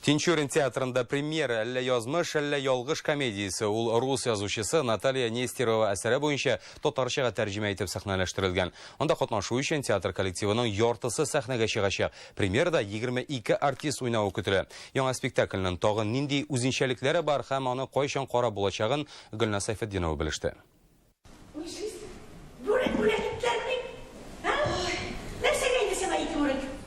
Тинчурин театрында премьера әллә язмыш, әллә ялгыш комедиясе. Ул рус язучысы Наталья Нестерова әсәре буенча татарчага тәрҗемә итеп сәхнәләштерелгән. Анда катнашу өчен театр коллективының яртысы сәхнәгә чыгачак. Премьерада 22 артист уйнавы көтелә. Яңа спектакльнең тагын нинди үзенчәлекләре бар һәм аны кайчан карап булачагын Гөлназ Сәйфетдинова белеште.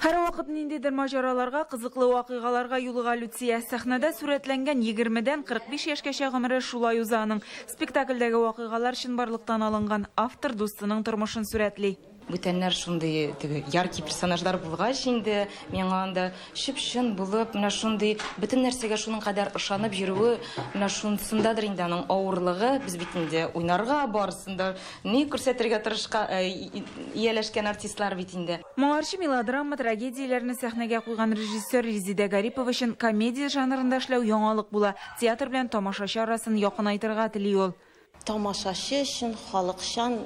Һәрвакыт ниндидер маҗараларга, кызыклы вакыйгаларга юлыга Люция. Сәхнәдә сурәтләнгән егермедән 45 яшькәчә гомере шулай уза аның. Спектакльдәге вакыйгалар чынбарлыктан алынган. Автор дустының тормышын сурәтли. Бүтәннәр шундый теге яркий персонажлар булгач инде, миңа анда чып-чын булып, менә шундый бөтен нәрсәгә шуның кадәр ышанып йөрүе, менә шунсындадыр инде аның авырлыгы. Без бит инде уйнарга, барысын да ни күрсәтергә тырышка, э, ияләшкән артистлар бит инде. Моңарчы мелодрама, трагедияләрне сәхнәгә куйган режиссер Резидә Гарипова өчен комедия жанрында эшләү яңалык була, театр белән тамашачы арасын якынайтырга тели ул. Тамашачы өчен халыкчан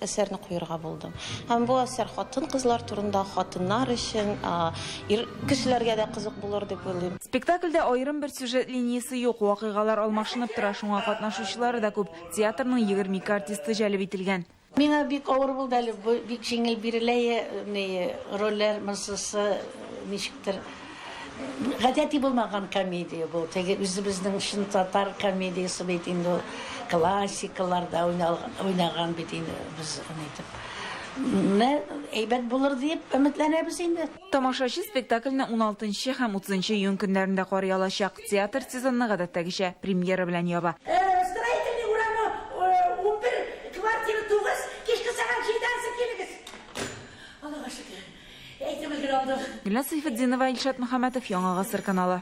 әсәрне куерга булдым. Һәм бу әсәр хатын-кызлар турында, хатыннар өчен, ир кешеләргә дә кызык булыр дип уйлыйм. Спектакльдә аерым бер сюжет линиясе юк, вакыйгалар алмашынып тора, шуңа катнашучылары да күп. Театрның егерме ике артисты җәлеп ителгән. Миңа бик авыр булды әле, бу бик җиңел бирелә е ми, рольләр монсысы ничектер гадәти булмаган комедия бу, теге үзебезнең чын татар комедиясе бит инде ул, классикаларда уйнал уйнаган бит инде без аны итеп. Менә әйбәт булыр диеп өметләнәбез инде. Тамашачы спектакльне 16 һәм 30 июнь көннәрендә карый алачак. Театр сезонны гадәттәгечә премьера белән яба. Строительный урамы 11, квартира 9, кичке сәгать җидедән соң килегез. Аллага шөкер, әйтеп өлгерә алдык. Гөлназ Сәйфетдинова, Илшат Мөхәммәтов, Яңа гасыр каналы.